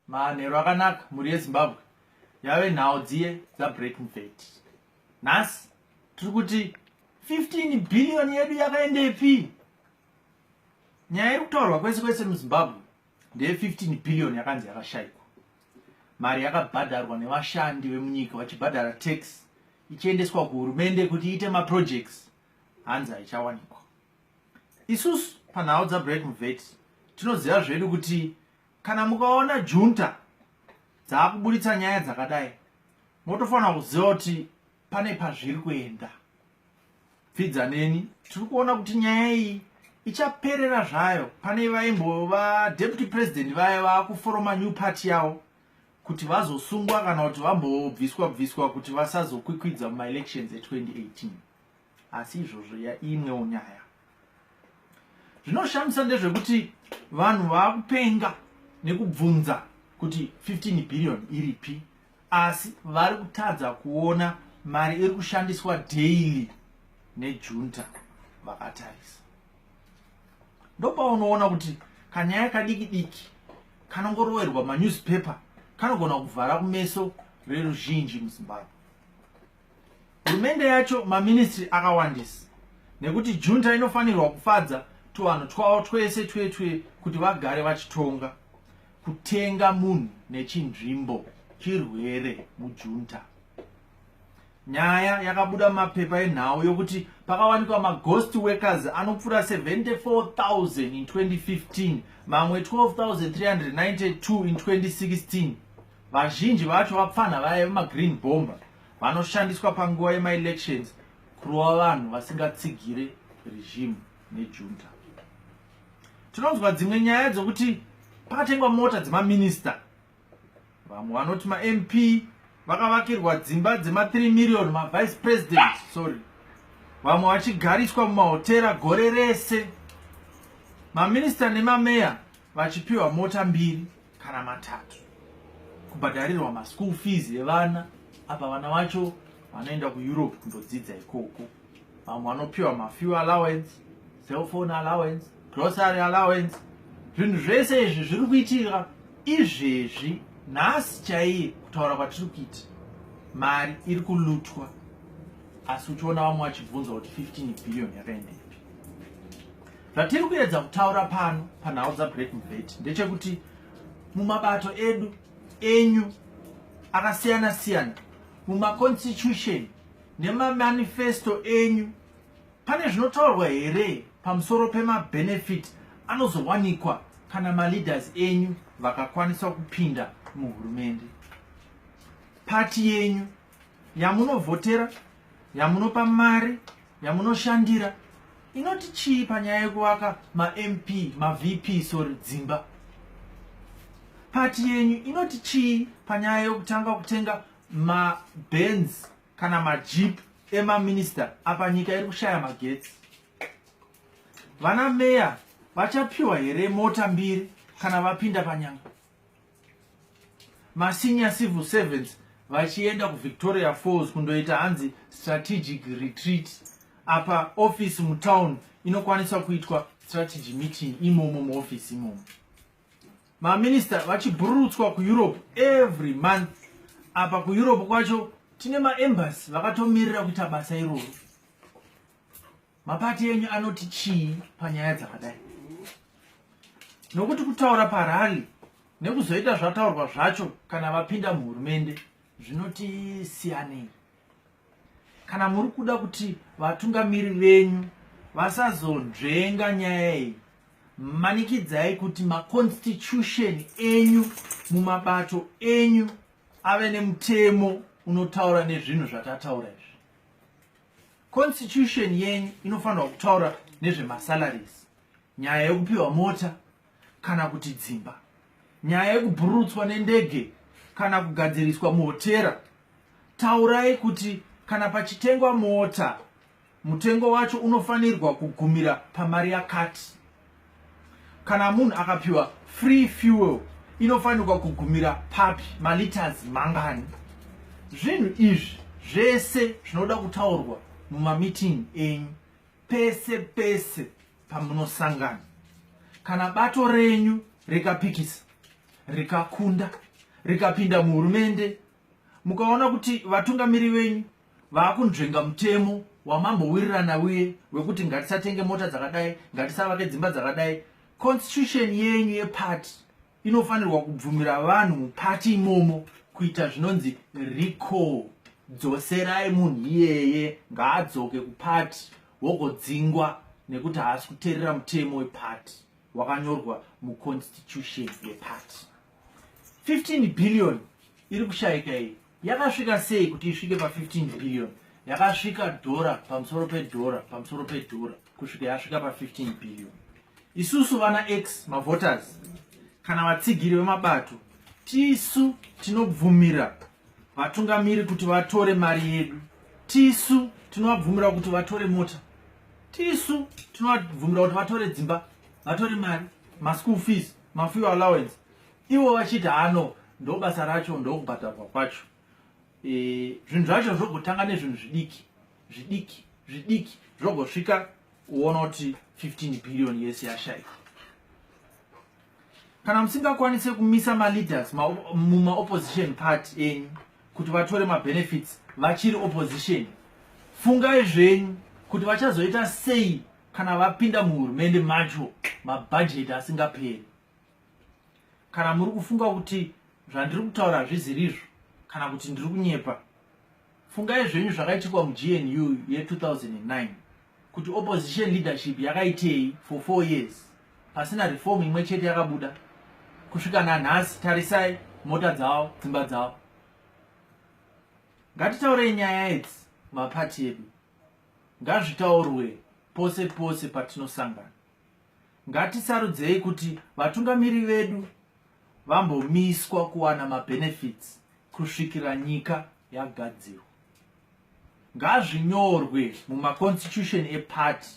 manhero akanaka mhuri yezimbabwe yave nhau dziye dzabreaking fat nhasi tiri kuti 15 billion yedu yakaendepi nyaya iri kutaurwa kwese kwese muzimbabwe ndeye 15 billion yakanzi yakashaikwa mari yakabhadharwa nevashandi vemunyika vachibhadhara tax ichiendeswa kuhurumende kuti iite maprojects hanzi haichawanikwa isusu panhau dzabreaking fat tinoziva zvedu kuti kana mukaona junta dzaakuburitsa nyaya dzakadai motofanira kuziva kuti pane pazviri kuenda pfidza neni tiri kuona kuti nyaya iyi ichaperera zvayo pane vaimbova deputy president vaya vaakuforoma new party yavo kuti vazosungwa kana kuti vambobviswa bviswa kuti vasazokwikwidza mumaelections e2018 asi izvozvo imwewo nyaya zvinoshamisa ndezvekuti vanhu vakupenga nekubvunza kuti 15 billion iripi asi vari kutadza kuona mari iri kushandiswa daily nejunta vakatarisa ndopaunoona kuti kanyaya kadiki diki kanongorowerwa manewspaper kanogona kuvhara kumeso reruzhinji muzimbabwe hurumende yacho maministry akawandisa nekuti junta inofanirwa kufadza tuvanhu twavo twese twetwe kuti vagare vachitonga kutenga munhu nechinzvimbo chirwere mujunta nyaya yakabuda mapepa enhau yokuti pakawanikwa maghost workers anopfuura 74000 in 2015 mamwe 12392 in 2016 vazhinji vacho vapfanha vaya vemagreen bomber vanoshandiswa panguva yemaelections kurova vanhu vasingatsigire regime nejunta tinonzwa dzimwe nyaya dzokuti pakatengwa mota dzemaminista vamwe vanoti mamp vakavakirwa dzimba dzema 3 million mavice president sorry vamwe vachigariswa mumahotera gore rese maminista nemameya vachipiwa mota mbiri kana matatu kubhadharirwa maschool fees evana apa vana vacho vanoenda kueurope kundodzidza ikoko vamwe vanopiwa mafew allowance cellphone allowance grocery allowance zvinhu zvese izvi zviri kuitika izvezvi nhasi chaiye kutaura kwatiri kuita mari iri kulutwa asi uchiona vamwe vachibvunza kuti 15 billion yakaendepi Zvatiri kuedza kutaura pano panhau dzaBreak Mubheti ndechekuti mumabato edu enyu akasiyana siyana mumaconstitution nemamanifesto enyu pane zvinotaurwa here pamusoro pemabenefit anozowanikwa kana maleaders enyu vakakwanisa kupinda muhurumende pati yenyu yamunovhotera yamunopa mari yamunoshandira inoti chii panyaya yekuvaka mamp mavp sorry dzimba pati yenyu inoti chii panyaya yekutanga kutenga mabens kana majip emaminista apa nyika iri kushaya magetsi vana meya vachapiwa here mota mbiri kana vapinda panyanga masenior civil servants vachienda kuvictoria falls kundoita hanzi strategic retreat apa office mutown inokwanisa kuitwa strategy meeting imomo muoffice imomo maminista vachibhururutswa kueurope every month apa kueurope kwacho tine maembasy vakatomirira kuita basa iroro Mapati enyu anoti chii panyaya dzakadai? Nokuti kutaura parali nekuzoita zvataurwa zvacho kana vapinda muhurumende zvinoti siyanei. Kana muri kuda kuti vatungamiri venyu vasazonzvenga nyaya iyi, manikidzai kuti maconstitution enyu mumabato enyu ave nemutemo unotaura nezvinhu zvatataura izvi. Constitution yenyu inofanirwa kutaura nezvemasalaries, nyaya yekupiwa mota kana kuti dzimba, nyaya yekubhururutswa nendege kana kugadziriswa muhotera. Taurai kuti kana pachitengwa mota mutengo wacho unofanirwa kugumira pamari yakati kana munhu akapiwa free fuel inofanirwa kugumira papi maliters mangani zvinhu izvi zvese zvinoda kutaurwa mumameeting enyu pese pese pamunosangana kana bato renyu rikapikisa rikakunda rikapinda muhurumende mukaona kuti vatungamiri venyu vaakunzvenga mutemo wamambowirirana uye wekuti ngatisatenge mota dzakadai ngatisavake dzimba dzakadai constitution yenyu yepati inofanirwa kubvumira vanhu mupati imomo kuita zvinonzi recall dzoserai munhu iyeye ngaadzoke kupati wogodzingwa nekuti haasi kuteerera mutemo wepati wakanyorwa muconstitution yepati 15 billion iri kushaika iyi yakasvika sei kuti isvike pa15 billion yakasvika dhora pamusoro pedhora pamusoro pedhora kusvika yasvika pa15 billion isusu vana x mavoters kana vatsigiri vemabato tisu tinobvumira vatungamiri kuti vatore mari yedu tisu tinovabvumira kuti vatore mota tisu tinovabvumira kuti vatore dzimba vatore mari maschool fees mafuel allowance ivo vachiti ano ndobasa racho ndokubhadharwa kwacho e, zvinhu zvacho zvogotanga nezvinhu zvidiki zvidiki zvidiki zvogosvika uona kuti 15 billion yese yashaika kana musingakwanise kumisa maleaders mumaopposition party enyu kuti vatore mabenefits vachiri opposition fungai zvenyu kuti vachazoita sei kana vapinda muhurumende macho mabhajeti asingaperi kana muri kufunga kuti zvandiri kutaura hazviziri izvo kana kuti ndiri kunyepa fungai zvenyu zvakaitikwa mugnu ye2009 kuti opposition leadership yakaitei for four years pasina reform imwe chete yakabuda kusvika nanhasi tarisai mota dzavo dzimba dzavo ngatitaurei nyaya idzi mapati edu ngazvitaurwe pose pose patinosangana ngatisarudzei kuti vatungamiri vedu vambomiswa kuwana mabenefits kusvikira nyika yagadzirwa ngazvinyorwe mumaconstitution epati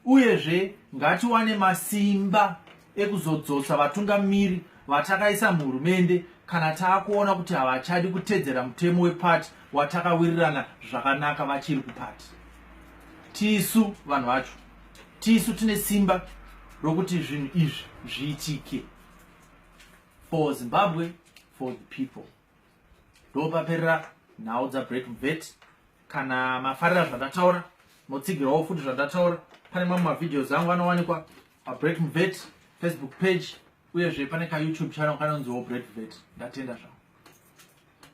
uyezve ngatiwane masimba ekuzodzosa vatungamiri vatakaisa muhurumende kana taakuona kuti havachadi kutedzera mutemo wepati watakawirirana zvakanaka vachiri kupati tisu vanhu vacho tisu tine simba rokuti zvinhu izvi zviitike for zimbabwe for the people ndopaperera nhau dzabreak vet kana mafarira zvandataura motsigirawo futi zvandataura pane mamwe mavideos angu anowanikwa pabreak vet facebook page uyezve pane kayoutube channel kanonziwo break vet ndatenda zvavo